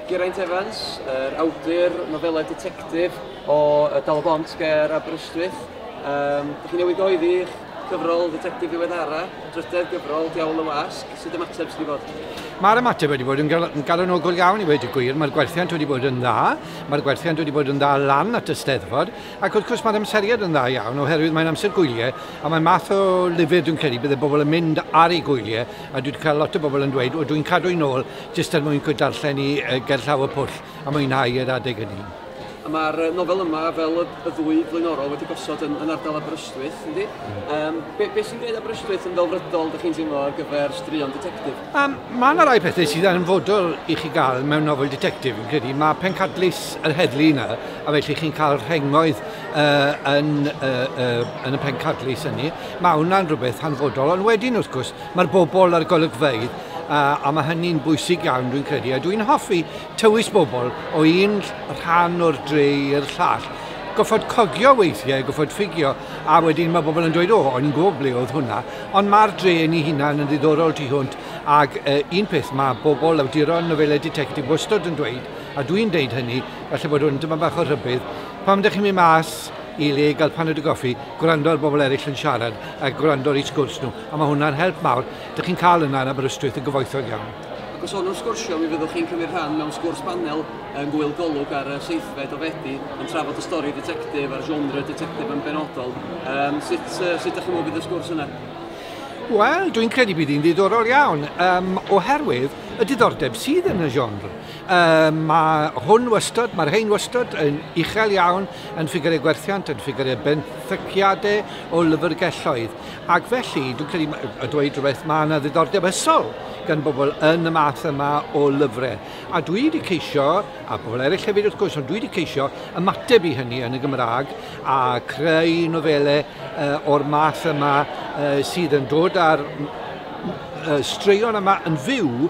Geraint Evans, yr awdur nofelau ditectif o Dal y Bont ger Aberystwyth. Um, Ydych chi'n newid oedd i'ch cyfrol ddetectif ddiweddara, drydedd gyfrol, Diawl y Wasg, sut ymateb sydd wedi bod? Mae'r ymateb wedi bod yn galonogol iawn i wedi gwir, mae'r gwerthiant wedi bod yn dda, mae'r gwerthiant wedi bod yn dda lan at y steddfod, ac wrth gwrs mae'r amseriad yn dda iawn oherwydd mae'n amser gwyliau a mae'n math o lyfr dwi'n credu bydde bobl yn mynd ar ei gwyliau a dwi wedi cael lot o bobl yn dweud o dwi'n cadw'n ôl Jyst er mwyn darllen hi gerllaw y pwll a mwynhau yr adeg hynny. A mae'r nofel yma, fel y ddwy flaenorol, wedi gosod yn ardal Aberystwyth, yndi? Yym, be, be sy'n gwneud Aberystwyth yn ddelfrydol, dych chi'n teimlo, ar gyfer straeon ditectif? Um, mae yna rai pethau sydd yn fodol i chi gael mewn nofel ditectif, yn credu. Mae pencadlys yr heddlu yna, a felly chi'n cael rhengoedd uh, yn, uh, uh, yn y pencadlys hynny. Mae hwnna'n rhywbeth hanfodol, ond wedyn, wrth gwrs, mae'r bobl a'r golygfeydd Uh, a mae hynny'n bwysig iawn dwi'n credu, a dwi'n hoffi tywys bobl o un rhan o'r dre i'r llall. Goffod cogio weithiau, goffod ffigio, a wedyn mae bobl yn dweud, o, o'n i'n gwybod ble oedd hwnna, ond mae'r dre yn ei hunan yn ddiddorol tu hwnt, ac uh, un peth mae bobl awduron nofelau detectif wastod yn dweud, a dwi'n deud hynny, felly bod hwn dyma bach o rhybydd, pam ydych chi'n mynd mas i le gael paned o goffi, gwrando ar bobl eraill yn siarad a gwrando ar eu sgwrs nhw, a mae hwnna'n help mawr. Dych chi'n cael yna yn Aberystwyth yn gyfoethog iawn. Ac os hon yw'r sgwrsio, mi fyddwch chi'n cymryd rhan mewn sgwrs banel yng Ngŵyl Golwg ar y seithfed o Fedi yn trafod y stori ditectif a'r genre ditectif yn benodol. Yym, sut, yy, sut dych chi'n meddwl bydd y sgwrs yna? Wel, dwi'n credu bydd hi'n ddiddorol iawn, um, oherwydd y diddordeb sydd yn y genre. Um, mae hwn wastod, mae'r hein wastod yn uchel iawn yn ffigurau gwerthiant, yn ffigurau benthyciadau o lyfrgelloedd. Ac felly, dwi'n credu ma- a dweud rhywbeth, mae yna ddiddordeb ysol gan bobl yn y math yma o lyfrau. A dwi wedi ceisio, a pobl eraill hefyd wrth gwrs, ond dwi wedi ceisio ymateb i hynny yn y Gymraeg a creu nofelau uh, o'r math yma uh, sydd yn dod ar uh, straeon yma yn fyw